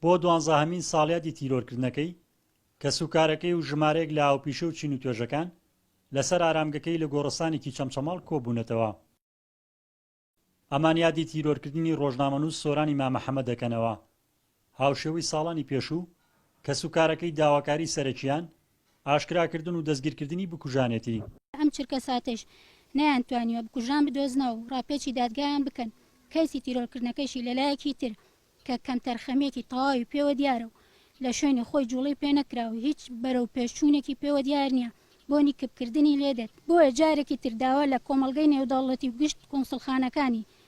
بۆ دوانزەهەمین ساڵیادی تیرۆرکردنەکەی، کەسوکارەکەی و ژمارەیەک لە هاوپیشە و چین و توێژەکان لەسەر ئارامگەکەی لە گۆڕستانێکی چەمچەماڵ کۆبوونەتەوە. ئەمان یادی تیرۆرکردنی ڕۆژنامەنووس سۆرانی مامە حەمە دەکەنەوە. هاوشێوەی ساڵانی پێشوو، کەسوکارەکەی داواکاری سەرەکییان ئاشکراکردن و دەستگیرکردنی بکوژانێتی. ئەم چرکەساتەیش نەیانتوانیوە بکوژان بدۆزنەوە و ڕاپێچی دادگایان بکەن، کەیسی تیرۆرکردنەکەیشی لەلایەکی تر کە کەمتەرخەمییەکی تەواوی پێوە دیارە و لە شوێنی خۆی جووڵەی پێ نەکراوە و هیچ بەرەوپێشچوونێکی پێوە دیار نییە بۆنی کپکردنی لێدێت، بۆیە جارێکی تر داوا لە کۆمەڵگەی نێودەوڵەتی و گشت کونسڵخانەکانی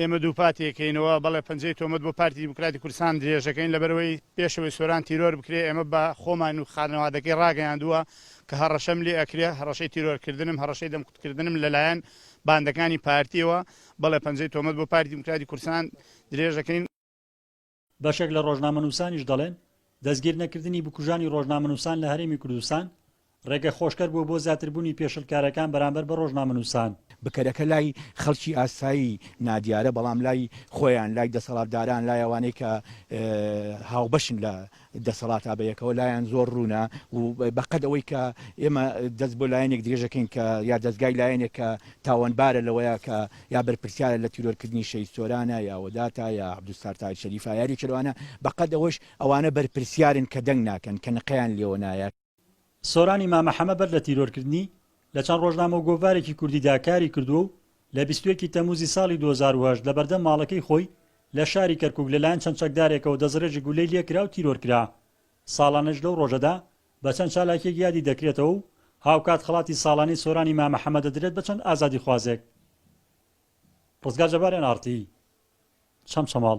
ئێمە دووپاتیەکەینەوە، بەڵێ پەنجەی تۆمەت بۆ پارتی دیموکراتی کوردستان درێژدەکەین، لەبەرئەوەی پێشەوەی سۆران تیرۆر بکرێت، ئێمە بە خۆمان و خانەوادەکەی ڕاگەیاندووە کە هەڕەشەم لێ ئەکرێت، هەڕەشەی تیرۆرکردنم، هەڕەشەی دەمکوتکردنم لەلایەن باندەکانی پارتیەوە، بەڵێ پەنجەی تۆمەت بۆ پارتی دیموکراتی کوردستان درێژدەکەین. بەشێک لە ڕۆژنامەنووسانیش دەڵێن، دەستگیرنەکردنی بکوژانی ڕۆژنامەنووسان لە هەرێمی کوردستان، ڕێگە خۆشکەر بووە بۆ زیاتربوونی پێشلکارەکان بەرامبەر بە ڕۆژنامەنووسان. بکەرەکە لای خەڵکی ئاسایی نادیارە، بەڵام لای خۆیان، لای دەسەڵاتداران، لای ئەوانەی کە هاوبەشن لە دەسەڵاتا بەیەکەوە، لایان زۆر ڕوونە و بە قەد ئەوەی کە ئێمە دەست بۆ لایەنێک درێژەکەین کە یا دەزگای لایەنێک کە تاوانبارە لەوەیا کە یا بەرپرسیارە لە تیرۆر کردنی شەهید سۆرانە یا وەداتە یا عبدالستار تاج شەریفە یا ریچل ئەوانە بە قەد ئەوەش ئەوانە بەرپرسیارن کە دەنگ ناکەن کە نقەیان لێوە نایە. سۆرانی مامە حەمە بەر لە تیرۆر کردنی لە چەند ڕۆژنامە و گۆڤارێکی کوردی دا کاری کردووە و لە بیست و یەک ی تەمووزی ساڵی دوو هەزار و هەشت لە بەردەم ماڵەکەی خۆی لە شاری کەرکوک لە لایەن چەند چەکدارێکەوە دەستڕێژی گولەی لێ کرا و تیرۆر کرا ساڵانێش لەو ڕۆژەدا بە چەند چالاکییەک یادی دەکرێتەوە و هاوکات خەڵاتی ساڵانەی سۆرانی مامە حەمە دەدرێت بە چەند ئازادیخوازێک. ڕزگار جەبار ئێن ئاڕ تی چەمچەماڵ.